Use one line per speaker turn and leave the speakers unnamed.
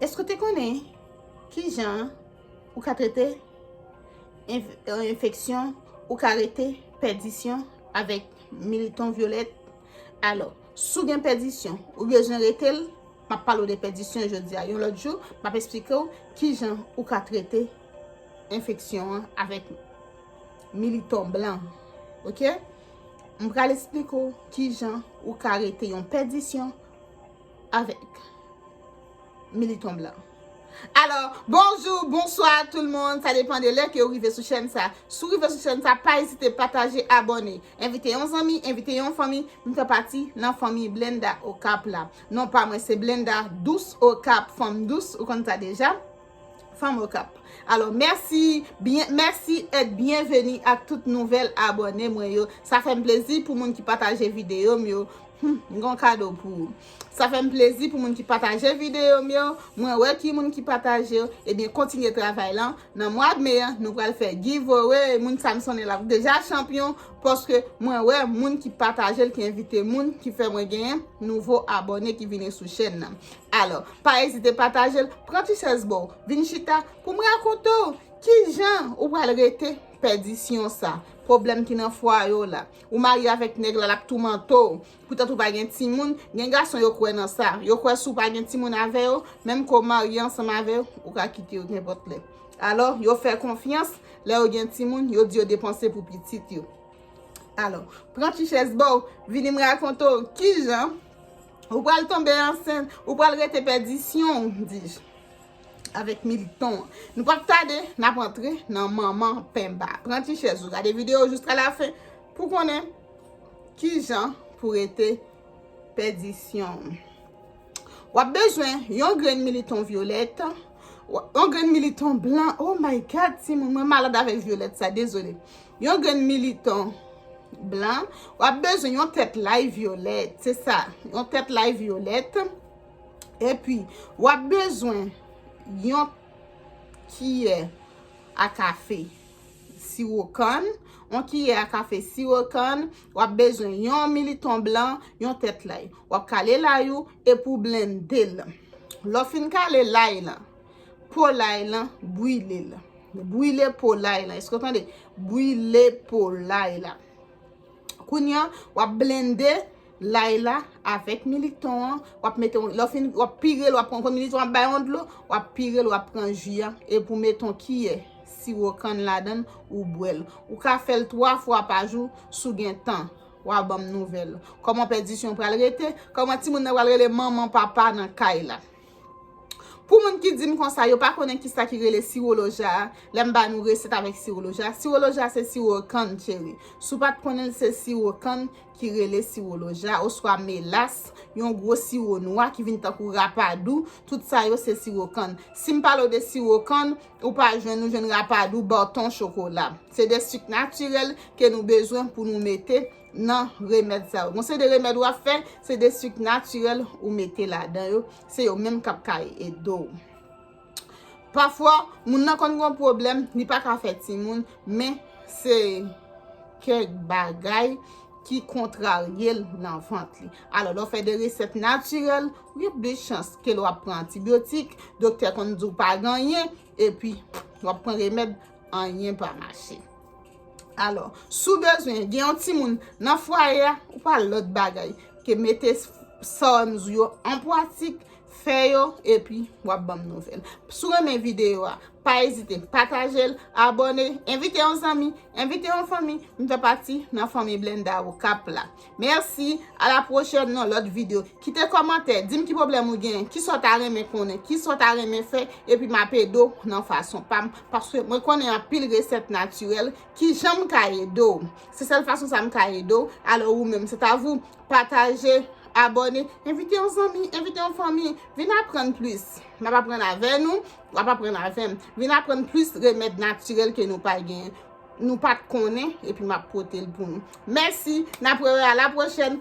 Èske ou te konnen ki jan ou ka trete enfeksyon ou ka rete pèdisyon avèk militon vyolèt? Alò, si w gen pèdisyon, ou bezwen rete l, m ap pale w de pèdisyon jodi a. Yon lòt jou, m ap esplike w ki jan ou ka trete enfeksyon an avèk militon blan. Ok? M pral esplike w ki jan ou ka rete yon pèdisyon. avèk militon blan. Alò, bonjou, bonswa tout l moun, sa depan de lè ke ou rive sou chèn sa. Si w rive sou chèn sa, pa ezite pataje, abòne. Envite yon zanmi, envite yon fanmi, vin fè pati nan fanmi Blenda Okap la. Non pa mwen se Blenda, dous Okap, fanm dous, ou konn sa deja. Fanm okap. Alò mèsi byen mèsi et byenveni ak tout nouvèl abòne mwen yo. Sa fè m plezi pou moun ki pataje videyo m yo. Humm m gen yon kado pou ou. Sa fè m plezi pou moun ki pataje videyo m yo. Mwen wè ki moun ki pataje yo. Ebyen kontinye travay lan. Nan mwa d me an nou pral fè giveaway. Moun sa m sonnen l ap deja chanpyon. Paske mwen wè moun ki pataje l ki envite moun ki fè mwen genyen nouvo abòne ki vini sou chèn nan. Alò. Pa ezite pataje l, pran ti chèz ba w, vin chita pou m rakonte w ki jan ou pral rete pèdisyon sa, pwoblèm ki nan fwaye w la. Ou marye avèk nèg la, l ap toumante w, poutèt ou pa gen timoun, gen gason yo kwè nan sa, yo kwè si w pa gen timoun avè yo, menm ke w marye ansanm avè yo, ou ka kite yo nenpòt lè. Alò, yo fè konfyans, lè yo gen timoun, yo di yo depanse pou pitit yo. Alò, pran ti chèz ba w, vini m rakonte w ki jan. Ou pral tonbe ansent, ou pral rete pèdisyon ou, dij. Avèk militon an. Nou pap tade, nap antre nan manman penba. Pran ti chèz ou, gade videyo jiska la fen, pou konnen ki jan pou rete pèdisyon ou. Wap bezwen yon grenn militon vyolèt, yon grenn militon blan, oh my god, ti moun mwen malad avèk vyolèt sa, dezole. Yon grenn militan blan, w ap bezwen yon tèt lay vyolèt, se sa, yon tèt lay vyolèt, epi w ap bezwen yon kiyè a kafe siwo kann, yon kiyè a kafe siwo kann, w ap bezwen yon militon blan, yon tèt lay. W ap kale lay ou epi w blende l. Lè w fin kale lay lan, po lay lan, brile l. Brile po lay lan. Eske w tande? Brile po lay la. Kounye an, w ap blende lay la avèk milik ton an. W ap mete yon, lè w fin, w ap pire l, w ap pran, kon milik ton an ap bay yon dlo, w ap pire l, w ap pran ji a, epi w mete yon kiyè siwo kann ladan l, ou bwè l. Ou ka fè l 3 fwa pa jou, si w gen tan. W a ban m nouvèl. Kòman pèdisyon pral rete? Kòman timoun nan pral rele manman, papa nan kay la? Pou moun ki di m konsa, yo pa konnen ki sa ki rele siwo loja a, lè m ba nou resèt avèk siwo loja. Siwo loja se siwo kann, cheri. Si w pa t konnen l, se siwo kann ki rele siwo loja, oswa melas, yon gwo siwo nwa ki vin tankou rapadou, tout sa yo se siwo kann. Si m pale w de siwo kann, ou pa jwenn, ou jwenn rapadou, baton, chokola. Se de sik natirèl ke nou bezwen pou nou mete nan remèd sa yo. Gon seri de remèd wap fè, se de sucre naturel ou mete ladan yo, se yo menm kap ka ede w. Pafwa, moun nan konn gon pwoblèm, li pa ka fè timoun, men se kèk bagay ki kontrarye l nan vant li. Alò, lè w fè de resèt naturel, ou gen plis chans ke lè wap pran antibiotik, doktè konn di w pa ganyen, epi wap pran remèd, anyen pa mache. Alò, si w bezwen gen yon timoun nan fwaye a, ou pa lòt bagay ke mete Psalms ou yo an pwatik, fè yo, epi w ap ban m nouvèl. Si w renmen videyo a, pa ezite pataje l, abòne, envite yon zanmi, envite yon fanmi, m fè pati nan fanmi Blenda Okap la. Merci, a la prochèn nan lòt video. Kite kòmantè, dim ki pwoblèm ou genyen, kisa w ta renmen konnen, kisa w ta renmen fè, epi m ap ede w nan fason pa m, paske mwen konnen anpil resèt natirèl, kijan m ka ede w? Se sèl fason sa m ka ede w, alò ou menm, se ta vou, pataje, abòne, envite yon zanmi, envite yon fanmi, vin aprann plis, m ap aprann avè nou, w ap aprann avè m, vin aprann plis remèd natirèl ke nou pa genyen. Nou pat konnen epi map potel pou nou. Mèsi, nap wè wè a la pwochèn.